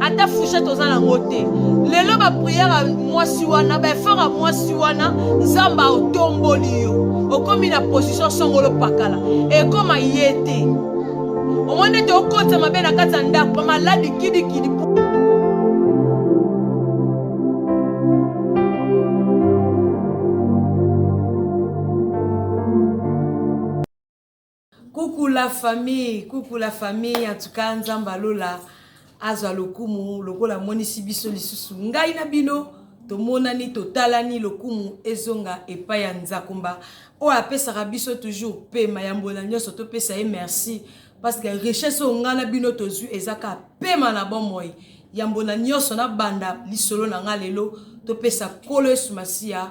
ata fouchette oza nango te lelo bapriere ya mwasi wana baefort ya mwasi wana nzambe aotomboli yo okomi na position songolo pakala ekoma ye te omoni ete okotisa mabe na kati ya ndako bamaladi kidikidi Coucou la famille, coucou la famille, en tout cas Nzamba Lola azwa lokumu lokola amonisi biso lisusu ngai na bino tomonani totalani lokumu ezonga epai ya nzakumba oyo apesaka biso toujours pema ya mbona nyonso topesa ye merci parce que richesse oyo ngai na bino tozwi eza kaka pema na bomoi yambo na nyonso nabanda lisolo na ngai lelo topesa nkolo yesu masiya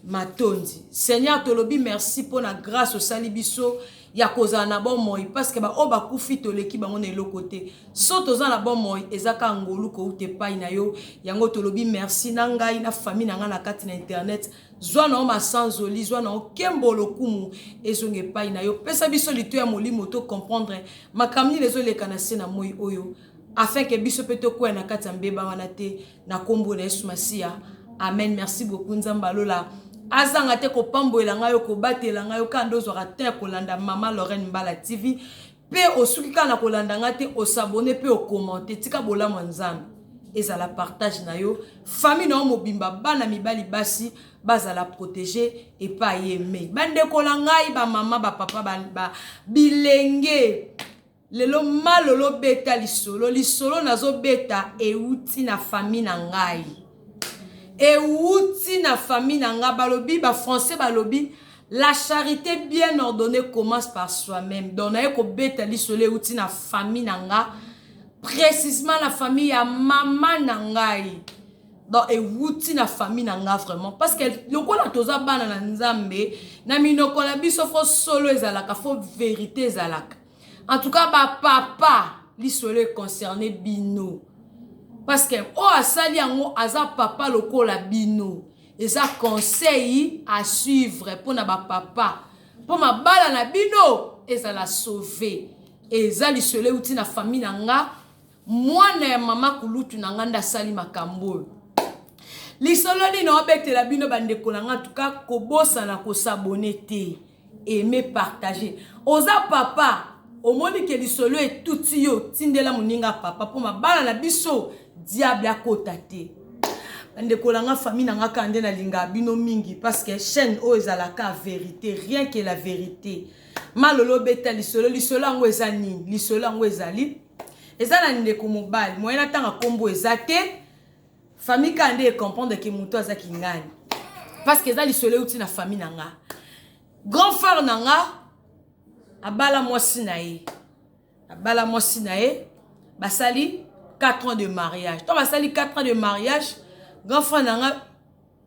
matondi seigneur tolobi merci mpo na grace osali biso ya kozala na bomoi parceke baoyo bakufi toleki bango na eloko te so toza na bomoi eza kaka ngolu kouta epai na yo yango tolobi merci na ngai na fami na ngai na kati na internet zwa na yo masanzoli zwa na yo kembo lokumu ezonga epai na yo pesa biso lito ya molimo to comprendre makambo nini ezoleka na se na moi oyo afin que biso pe tokueya na kati ya mbeba wana te na kombo na Yesu Masiya amen merci beaucoup Nzambe ya lola azanga te kopambolela ngai yo kobatela ngai yo kaka nde ozwaka te ya kolanda mama Lorraine Mbala TV pe osuki kaka na kolanda ngai te osabone pe okomante tika bolamu ya Nzambe ezala partage na yo famille na yo mobimba bana mibali basi bazala protege epai ye mei bandeko na ngai bamama bapapa ba, ba, bilenge Lelo ma lolo beta lisolo lisolo nazo beta ewuti na famille na ngai ewuti na famille na ngai balobi ba français balobi la charité bien ordonnée commence par soi-même donc naye kobeta lisolo ewuti na famille na nga précisement na famille ya mama na ngai donc ewuti na famille na nga vraiment parce que lokola toza bana na nzambe na minoko na biso fo solo ezalaka fo verité ezalaka En tout cas ba papa lisolo e concerne bino parce que oyo asali yango aza papa lokola bino eza conseil à suivre mpo na ba papa mpo mabala na bino ezala sauve eza lisolo euti na famille na nga Mwana ya mama kulutu na nga nde asali makambo oyo. Lisolo nini obetela bino bandeko na nga tuka kobosana kosabone te aime partage oza papa omoni ke lisolo etuti yo tindela moninga papa mpo mabala na biso diable akota te bandeko na nga famille na nga kaka nde nalingaka bino mingi parce que chaîne oyo ezalaka verité rien que la verité malolo obeta lisolo lisolo yango eza nini lisolo yango ezali eza na ndeko mobali moyen atanga nkombo eza te famille kaka nde ecomprendre ke moto aza kingani parce que eza lisolo euti na famille na nga grand frère na nga abala mwasi na ye abala mwasi na ye basali 4 ans de mariage ntango basali 4 ans de mariage grand frère na nga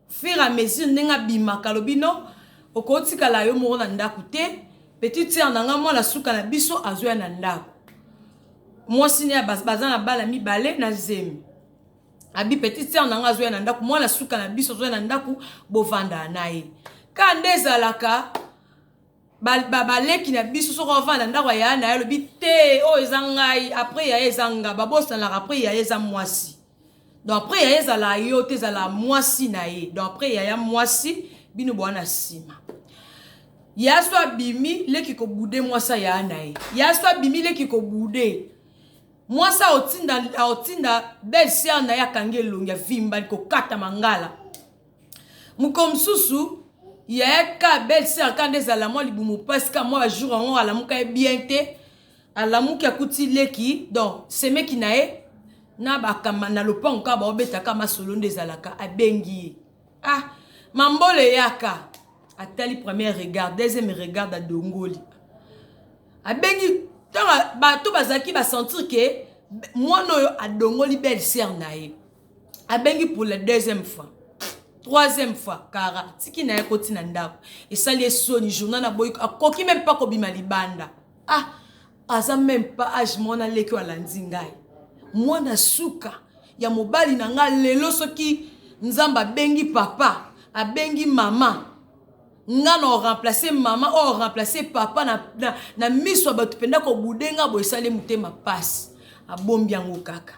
fur a mesure ndenge abimaka alobi no okotikala yo moko na ndako te petite sere na ngai mwana suka na biso azoya na ndako mwasi ne baza na bana mibale na zemi abi petite sere na ngai azoya na ndako mwana suka na biso azoya na ndako bovandana ye ka nde ezalaka baleki na biso soki ovanda na ndako ya yaya na ye alobi te oyo eza ngai apres yaya eza nga babosanaka apres yaya eza mwasi donc apres yaya ezala yo te ezala mwasi na ye donc apres yaya mwasi bino boya na nsima ya so abimi leki kobude mwasi aya na ye ya so abimi leki kobude mwasi aotinda aotinda belle sœur na ye akangi elongi avimba kokata mangala Mokolo mosusu yaya ka belle sœur ka nde ezala mwa libumu pasi ka mwa ba jour yango alamuka ye bien te alamuki akuti leki donc semeki na ye na bakamba na lopango kaka baobetaka masolo nde ezalaka abengi ye ah mambolo eyaka atali première regard deuxième regard adongoli abengi ntango bato bazalaki basentir ke mwana oyo adongoli belle sœur na ye abengi pour la deuxième fois troisième fois kara tiki na ye akoti na ndako esali esoni journal aboyi akoki meme mpa kobima libanda ah aza meme mpa age mwana leki oyo alandi ngai mwana suka ya mobali na ngai lelo soki nzambe abengi papa abengi mama nga na oremplace mama oyo oremplace papa na, na, na miso ya bato mpenza kobude nga boye esali motema mpasi abombi yango kaka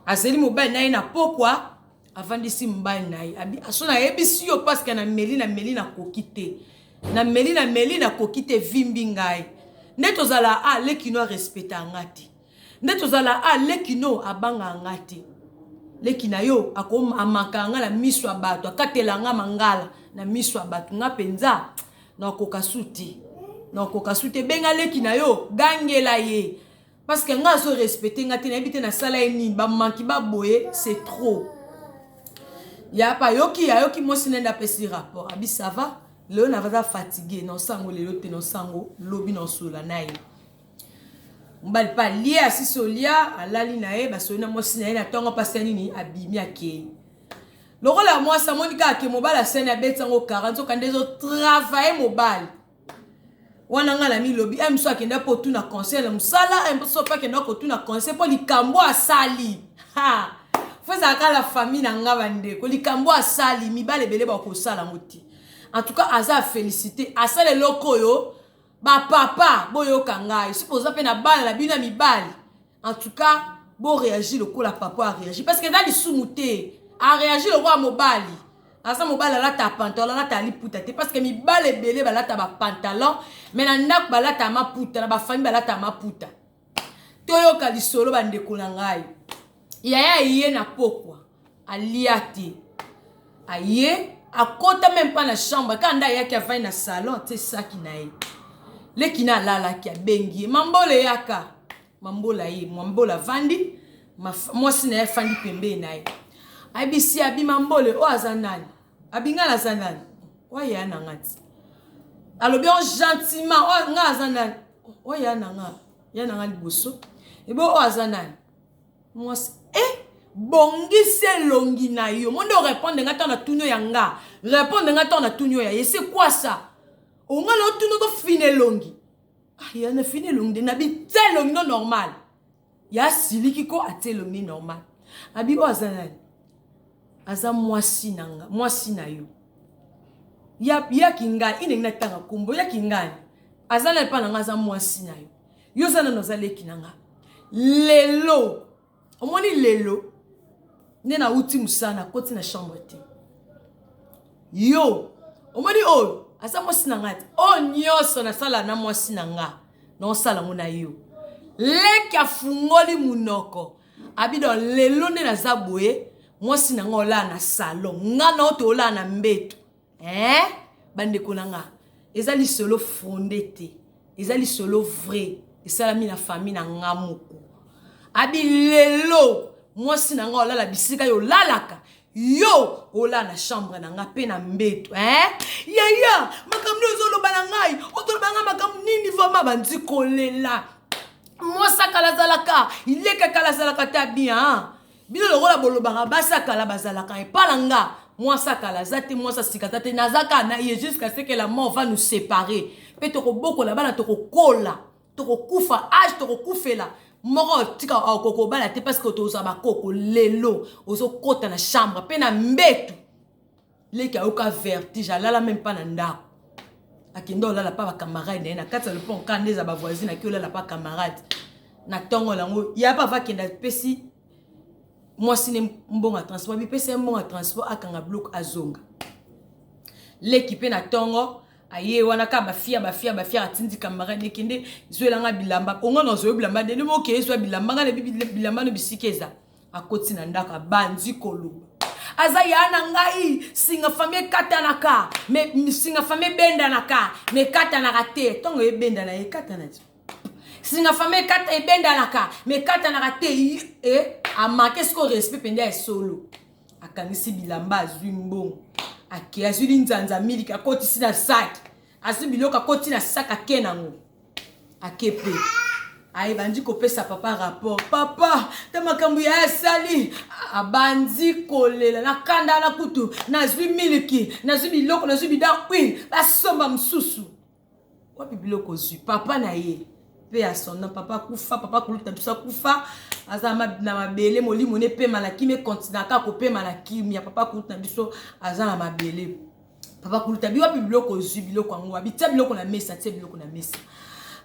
azeli mobali na ye na pokwa avandisi mobali na ye aso nayebisi yo paske na meli na meli nakoki te na meli na meli nakoki te vimbi ngai nde tozala a ah, lekino arespecta nga te nde tozala a ah, lekino abanga nga te leki na yo amakaka nga na miso ya bato akatela nga mangala na miso ya bato nga mpenza nakoka su te nakoka su te benga leki na yo gangela ye Parce que nga azo respecter nga te nayebi te nasala ye nini ba manki ba boye c'est trop. Ya pa yoki ayoki mwasi nende apesi rapport abi ça va lelo naza fatigue na osango lelo te na osango lobi na osola na ye mobali mpe alie asisi olia alali na ye basoli na mwasi na ye na ntongo mpasi ya nini abimi akei lokola mwasi amoni kaka ke mobali asani abeti yango kara nzoka nde ezotravaye mobali wana ngai namilobi eme so akenda mpo otuna conseil na mosala eme so mpe akenda kotuna conseil mpo likambo asali fo ezalaka la famille na ngai bandeko likambo asali mibale ebele bakosala yango te en tout cas aza afélicité asala eloko oyo bapapa boyoka ngai soki boza mpe na bana na bino ya mibali en tout cas bo réagir lokola papa a réagir parce que eza lisumu te a réagir lokola mobali aza mobali alata pantalon alata liputa te parce que mibali ebele balata bapantalon mais na ndako balata maputa na bafamille balata maputa toyoka lisolo bandeko na ngai yaya eye na pokwa alia te aye akota meme pas na chambre kaka nde ayaki avandi na salon atie saki na ye leki na alalaki abengi ye mambola eyaka mambola ye mambola avandi mwasi na ye afandi pembeni na ye ayebisi abima mbole oyo aza nani abingala aza nani oya na nga ti alobi o gentiment oyo nga aza nani oya na nga ya na nga liboso ebe oyo aza nani mwasi eh bongisa elongi na yo monde orepondre nga ntango na tunio ya nga repondre nga ntango na tunio ya ese kwasa onga na otuni okofina elongi ah, ya na fini elongi de na bitya elongi no normal ya asiliki ko atya elongi normal abi oyo aza nani aza mwasi na nga mwasi na yo ya, ya kingani inengi natanga nkombo ya kingani aza na epai na nga aza mwasi na yo yo oza nano oza leki na nga lelo omoni lelo nde nauti mosala nakoti na chambre te yo omoni oyo aza mwasi na nga te oyo nyonso nasala na mwasi na nga naosala yango na yo leki afungoli monoko abido lelo nde naza boye mwasi na nga olaa na salon nga nao toolaa na mbeto eh bandeko na nga eza lisolo fonde te eza lisolo vrai esalami na famille na nga moko abi lelo mwasi na nga olala bisika yo olalaka yo olala na chambre na nga mpe na mbeto eh? yaya makambo nde ozoloba na ngai otoloba ngai makambo nini vraimen bandi kolela mwasi akala azalaka ileka kala azalaka ta bien Bino lokola bolobaka basi ya kala bazalaka epa na nga mwasi ya kala aza te mwasi ya sika aza te naza kaka na ye jusqu'à ce que la mort va nous séparer mpe tokobokola bana tokokola tokokufa age tokokufela moko tika okokobala te parce que tozwa bakoko lelo ozokota na chambre mpe na mbetu leki ayoka vertige alala meme mpa na ndako akenda olala mpa bacamarade na ye na kati ya lopon ka nde eza bavoisine aki olala mpa camarade na ntongo yango ya bava akenda pesi mwasi ne mbongo ya transport bipesi ye mbongo ya transport akanga bloke azonga leki mpe na ntongo aye wana ka bafia bafia bafia atindi camarade ekende zwelanga bilamba onga na ozoyo bilamba nde nde moke ezwa bilamba nga na bilamba no bisika eza akoti na ndako abandi koloba aza ya na ngai singa fami ekatanaka me singa fami ebendanaka me ekatanaka te ntongo ebendana ekatana ti singa fami ekata ebendanaka me ekatanaka te e amake sikoyo respect mpenza ya solo akangisi bilamba azwi mbongo ake azwi linzanza miliki akotisi na saki azwi biloko akoti na saki ake nango akepe aye bandi kopesa papa rapport papa ta makambo ya asali abandi kolela na kanda na kutu nazwi miliki nazwi biloko nazwi bida huile basomba mosusu wapi biloko ozwi papa na ye mpe ya sondant papa akufa papa kuluta biso akufa aza na mabele molimo nepema na kimia ekontinaka kopema na kimia papa kuluta na biso aza na mabele papa kuluta bi wapi biloko ozwi biloko yango wapi tia biloko na mesa tia biloko na mesa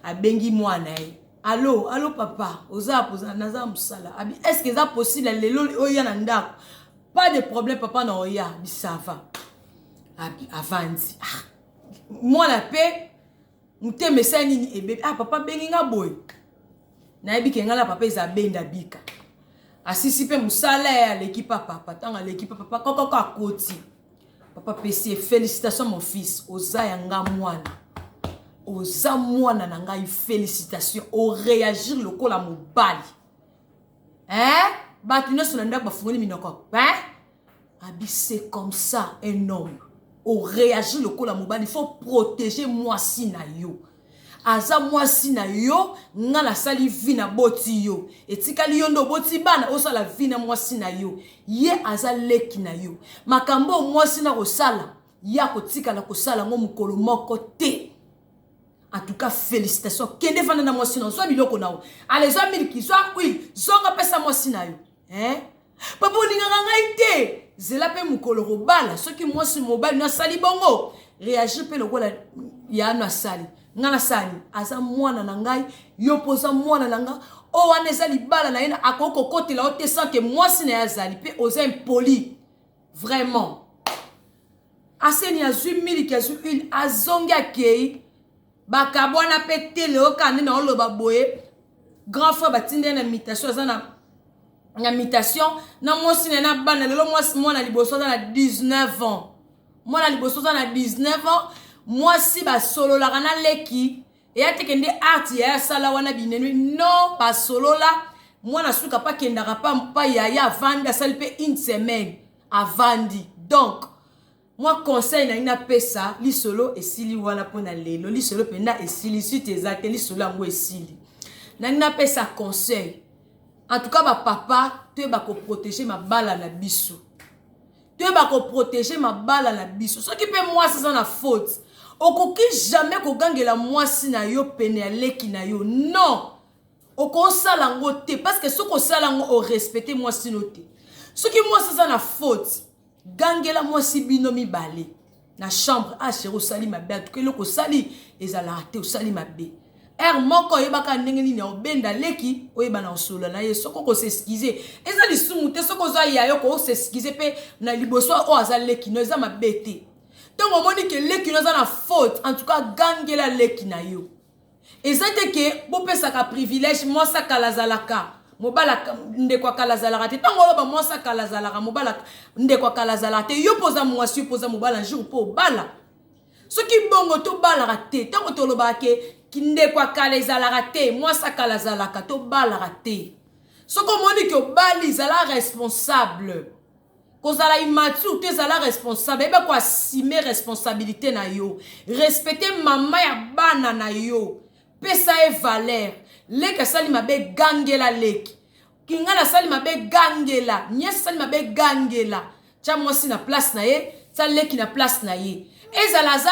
abengi mwana ye alo alo papa oza poza naza mosala abi estce eza possible lelo oya na ndako pas de problème papa na oya bisava abi avandi ah. mwana mpe mutema esali nini ebebi ah papa abengi nga boye nayebi ke nga na papa eza benda bika asisi mpe mosala ye aleki pa papa ntango aleki pa papa kokoko akoti papa pesi ye félicitation mon fils oza ya nga mwana oza mwana na ngai félicitation oreagir lokola mobali eh bato nyonso na ndako bafungoli minoko eh abi c'est comme ça un homme oreagir lokola mobali faut protéger mwasi na yo aza mwasi na yo nga nasali vi na boti yo etikali yo nde oboti bana osala vi na mwasi na yo ye aza leki na yo makambo oyo mwasi na kosala ye akotikala kosala yango mokolo moko te en tout cas félicitation kende vanda na mwasi na zwa biloko na yo ale zwa miliki zwa huile zonga pesa mwasi na yo eh? papa olingaka ngai te zela mpe mokolo kobala soki mwasi mobali nasali bongo reagir mpe lokola yano asali ngai nasali aza mwana na ngai yo mpo oza mwana na ngai oyo wana eza libala na ye akoki kokotela yo te sanke mwasi na ye azali mpe oza impoli vraiment aseni azwi miliki azwi huile azongi akei bakabwana mpe te leo kaka nde naoloba boye grand frère batinda ye na mitation aza na na mitation na mwasi na ye na bana lelo mwasi mwana liboso aza na 19 ans mwana liboso aza na 19 ans mwasi basololaka na leki eya teke nde art yaya asala wana binenwi non basolola mwana suka pa kendaka pa mpa yaya avandi asali mpe une semaine avandi donc mwa conseil na ye napesa lisolo esili wana mpo na lelo lisolo mpenza esili site eza te lisolo yango esili nangi napesa conseil en tout cas bapapa toyeba koprotege mabala na biso toyeba ko proteger mabala na biso soki mpe mwasi aza na faute okoki jamais kogangela mwasi na yo pene ya leki na yo non okosala yango te parce que soki osala yango orespecte mwasi no te soki mwasi aza na faute gangela mwasi bino mibale na chambre ah chéri osali mabe atuka eloko osali ezalaka te osali mabe heure moko oyebaka ndenge nini obenda leki oyeba na osolola na ye soki okoseskize eza lisumu te soki oza ya yo kooseskize mpe na liboso oyo aza leki no eza mabe te ntongo omoni ke leki no aza na faute en tout cas gangela leki na yo Eza te ke bo pesaka privilege mwasi ya kala azalaka mobala ndeko ya kala azalaka te tango oloba mwasi ya kala azalaka mobala ndeko ya kala azalaka te yo poza mwasi yo poza mobala jour po obala soki bongo tobalaka te tango tolobaka ke ndeko ya kala ezalaka te mwasi ya kala azalaka tobalaka te soki omoni ke obali zala responsable Kozala immature te zala responsable yeba ko assumer responsabilite na yo respecte maman ya bana na yo pesa ye valeur leki asali mabe gangela leki kingana asali mabe gangela niese asali mabe gangela tya mwasi na place na ye tya leki na place na ye ezala aza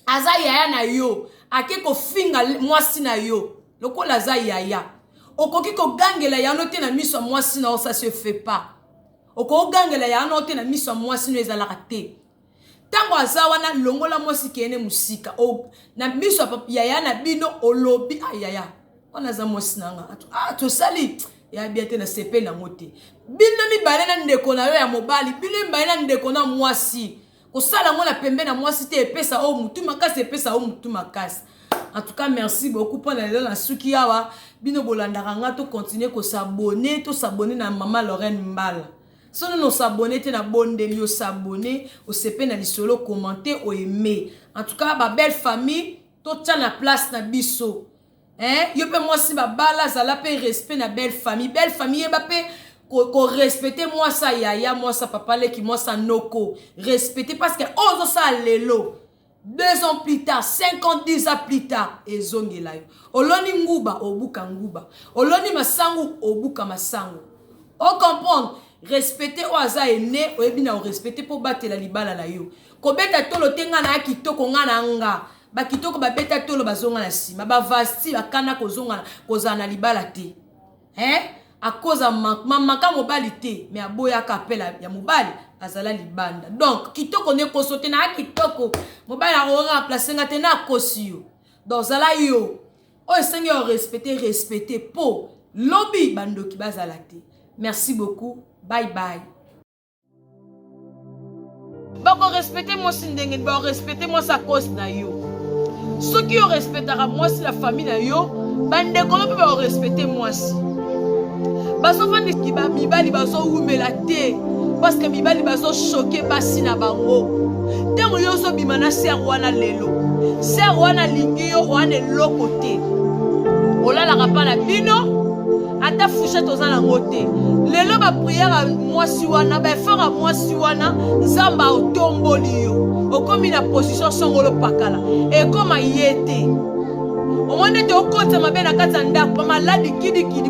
aza yaya na yo ake kofinga mwasi na yo lokola aza yaya okoki kogangela yano te na miso ya mwasi na yo sa se fait pas okogangela yano te na miso ya mwasi no ezalaka te ntango aza wana longola mwasi kende mosika na miso ya yaya na bino olobi ayaya ah, wana aza mwasi na nga ah, tosali ya bia te nasepeli yango te bino mibale na ndeko na yo ya mobali bino mibale na ndeko na mwasi kosala yango na pembe na mwasi te epesa oyo mutu makasi epesa oyo mutu makasi en tout cas merci beaucoup mpo na lelo na suki awa bino bolandaka nga tocontinue kosabone tosabone na mama lorraine mbala sono nosabone te nabondeli osabone osepe na lisolo commente oaime en tout cas babelle famille totya na place na biso Hein yo pe mwasi babala zala pe respect na belle famille belle famille yeba pe ko respecter mwasi ya yaya mwasi ya papa leki mwasi ya noko respecter parce que oyo ozosala lelo deux ans plus tard cinq ans dix ans plus tard ezongela yo oloni nguba obuka nguba oloni masangu obuka masangu ocomprendre respecte oyo aza ene oyebi na orespecte mpo obatela libala na yo kobeta tolo te ngai naya kitoko ngai na nga Ba kitoko ba beta tolo bazonga na sima ba vasti akana kozonga kozala na libala te hein akoza manquement maka mobali te me aboyaka appel ya mobali azala libanda donc kitoko nde koso te naa kitoko mobali akokoka remplace nga te na akosi yo donc zala yo oyo esengi yo respecte respecte po lobi bandoki bazala te merci beaucoup bye bye bakorespecte mwasi ndenge nini bakorespecte mwasi a cause na yo soki yo respectaka mwasi na famille na yo bandeko no mpe bakorespecte mwasi bazofandisi bamibali bazowumela te parceke mibali bazoshoke basi na bango ntango yo ozobima na ser wana lelo ser wana alingi yo wana eloko te olalaka mpa na bino ata fouchette oza nango te lelo bapriere ya mwasi wana baefort ya mwasi wana nzambe aotomboli yo okomi na position songolo pakala ekoma ye te omoni ete okotisa mabe na kati ya ndako bamaladi kidikidi